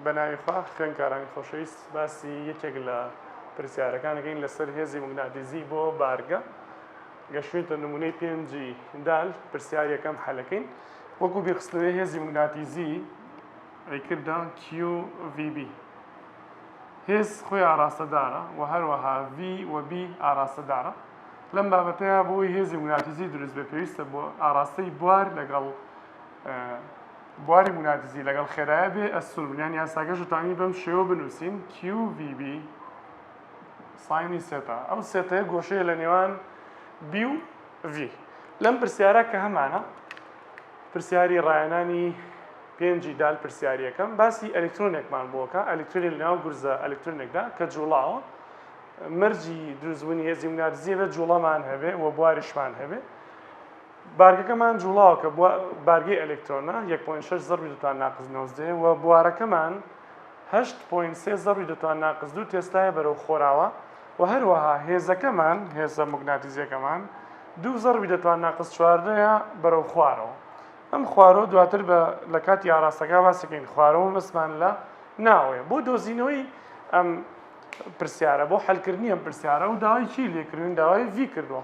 بەناوی خوا خوێنکارانی خۆشەویست باسی یەکێک لە پرسیارەکان دەکەین لەسەر هێزی موگناتیزی بۆ بارگە گەشتوێتە نمونەی پێنجی دال پرسیار یەکەم حەلەکەین وەکو بیرخستنەوەی هێزی موگناتیزی ئەیکردا QVB هێز خۆی ئاراستەدارە و هەروەها V و B ئاراستەدارە لەم بابەتەیە بۆی هێزی موگناتیزی دروست بێ پێویستە بۆ ئاراستەی بوار لەگەڵ بواری مونادزی لەگەڵ خێرایە بێ ئەسوور بن یان یاساکەش دەتوانین بەم شێوە بنووسین QVB ساینی سێتا ئەم سێتەیە گۆشەیە لە نێوان B و V لەم پرسیارە کە هەمانە پرسیاری ڕایەنانی پێنجی دال پرسیاریەکەم باسی ئەلکترۆنێکمان بۆکە ئەلکترۆنی لەناو گورزە ئەلکترۆنێکدا کە جوڵاوە مەرجی دروستبوونی هێزی منارزیە بێت جوڵەمان هەبێ و بواریشمان هەبێ بارگەکەمان جوڵاوە کە بوە بارگەی ئەلکترۆنە یەک پۆینت شەش زەڕبی دوو توان ناقس نۆزدە وە بوارەکەمان هەشت پۆینت سێ زەڕبی دوو توان ناقس دوو تێسلایە بەرەو خۆراوا وە هەروەها هێزەکەمان هێزە موگناتیزیەکەمان دوو زەڕبی دە توان ناقس چواردەیە بەرەو خوارەوە ئەم خوارەوە دواتر بە لە کاتی ئاراستەکە باسەکەین خوارەوە مەسمان لە ناوەیە بۆ دۆزینەوەی ئەم پرسیارە بۆ حلکردنی ئەم پرسیارە و داوای چی لێکردوین داوای ڤی کردووە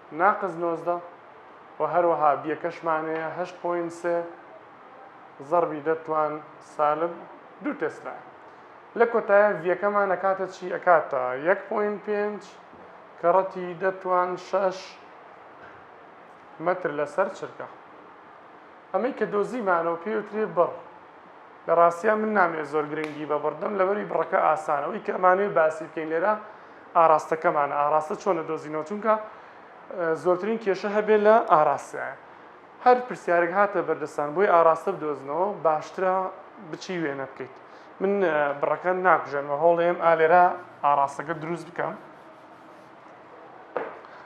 ناقس نۆزدە، وە هەروەها بیەکەشمان هەیە هەشت پۆینت سێ زەڕبی دە توان سالب دوو تێسلایە لە کۆتایە ڤیەکەمان ئەکاتە چی ئەکاتە یەک پۆینت پێنج کە ڕەتی دە توان شەش مەتر لەسەر چرکە ئەمەی کە دۆزیمانەوە پێوترێ بڕ لە ڕاستیا من نامەوێت زۆر گرنگی بە بڕ بدەم لەبەروی بڕەکە ئاسانە ئەوی کە ئەمانەوێت باسی بکەین لێرە ئاراستەکەمانە ئاراستە چۆن دەدۆزینەوە چونکە زۆرترین کێشە هەبێت لە ئاراستە هەر پرسیارێک هاتە بەردەستان بۆی ئاراستە بدۆزنەوە باشترە بچی وێنە بکەیت من بڕەکە ناکوژێنمە هەوڵێم ئالێرا ئاراستەکە دروست بکەم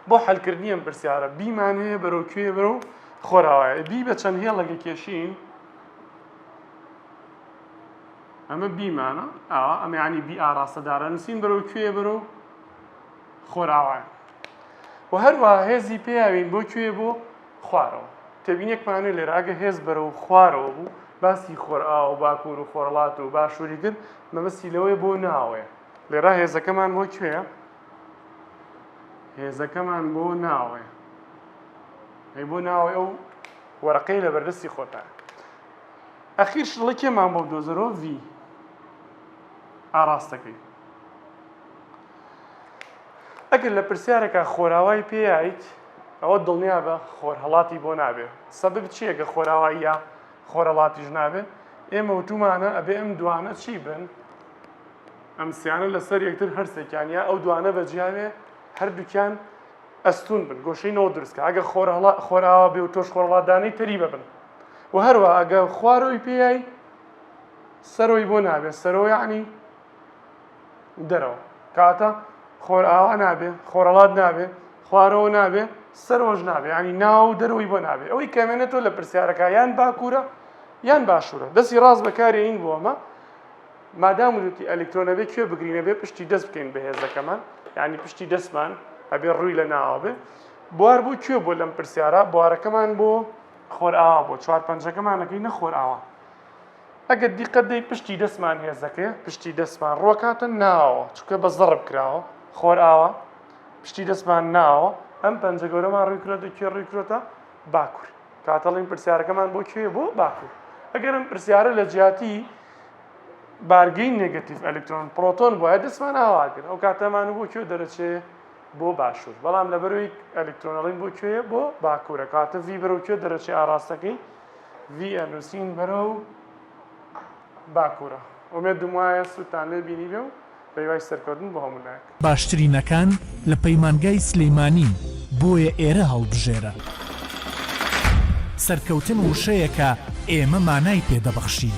بۆ حلکردنی ئەم پرسیارە بیمانەیە بەرەو کوێ بەرەو خۆراوایە بی بە چەند هێڵەکە کێشین ئەمە بیمانە ئاوا ئەمە ینی بی ئاراستە دارە نووسین بەرەو کوێ بەرەو خۆراوان و هەروە هێزی پێیاوین بۆ کوێ بۆ خوارەوە تێبینێکمانێ لێرە ئەگە هێز بەرەو خوارەوە بوو باسی خۆرئا و باکوور و خۆرڵات و باشووری کرد مەبەستی لەوەی بۆ ناوەیە لێرا هێزەکەمان بۆ کوێ هێزەکەمان بۆ ناوەیە ئەی بۆ ناوەی ئەو وەرەقەی لە بەردەستی خۆتە. ئەخیر شڵە کێ مام بۆ بدۆزەرۆ ڤی ئاراستەکەی ئەگەر لە پرسیارەکە خۆراوای پێیت ئەوە دڵنیا بە خۆرهڵاتی بۆ نابێ سەبب چیەگە خۆراواییە خۆرەڵاتیش نابێ ئێمە وتومانە ئەبێ ئەم دوانە چی بن ئەم سیانە لەسەر یەکتر هەرسێکیان یا ئەو دوانە بەجیاوێ هەردووکیان ئەستوون بن گۆشەی نەوت دروست کە ئەگە خۆرهەڵا خۆراوا بێ و تۆش خۆرهەڵات دانێی تەری بەبن و هەروە ئەگە خوارۆی پێیای سەرۆی بۆ نابێ سەرۆ یعنی دەرەوە کاتە خۆرئاوا نابێ خۆرەڵات نابێ خوارەوە نابێ سەرۆژ نابێ ینی ناو دەرەوەی بۆ نابێ ئەوەی کەمێنە تۆ لە پرسیارەکە یان باکوورە یان باشوورە دەستی ڕاست بەکارێین بۆ ئەمە مادام وتی ئەلکترۆن ئەبێ کوێ بگرین ئەبێ پشتی دەست بکەین بە هێزەکەمان یعنی پشتی دەستمان ئەبێ ڕووی لە ناوە بێ بوار بۆ کوێ بۆ لەم پرسیارە بوارەکەمان بۆ خۆرئاوا بۆ چوار پەنجەکەمانەکەی نەخۆرئاوا ئەگەر دیقەت دەی پشتی دەستمان هێزەکەی پشتی دەستمان ڕۆکاتە ناوە چکە بە زەڕب کراوە خۆرئاوا پشتی دەستمان ناوە ئەم پەنجە گەورەمان ڕووی کرۆتە کوێ ڕووی کرۆتە باکوور کاتەڵین پرسیارەکەمان بۆ کوێ بۆ باکوور ئەگەرم پرسیارە لە جیاتی بارگەی نێگەتیڤ ئەلکترۆن پرۆتۆن بوایە دەستمان ئاوا کرد ئەو کاتەمان بۆ کوێ دەرەچێ بۆ باشوور بەڵام لەبەروی ئەلکترۆنەڵین بۆ کوێ بۆ باکوورە کاتە ڤی بەرەو کوێ دەرەچێ ئاراستەکەی ڤی ئەنووسین بەرەو باکوورە ئومێدم وایە سوودتان لێ بینی بێ و بەهیوای سەرکەوتن بۆ هەموو لایەک. باشترینەکان لە پەیمانگای سلیمانین بۆیە ئێرە هەڵبژێرە. سەرکەوتن وشەیەکە ئێمە مانای پێ دەبەخشین.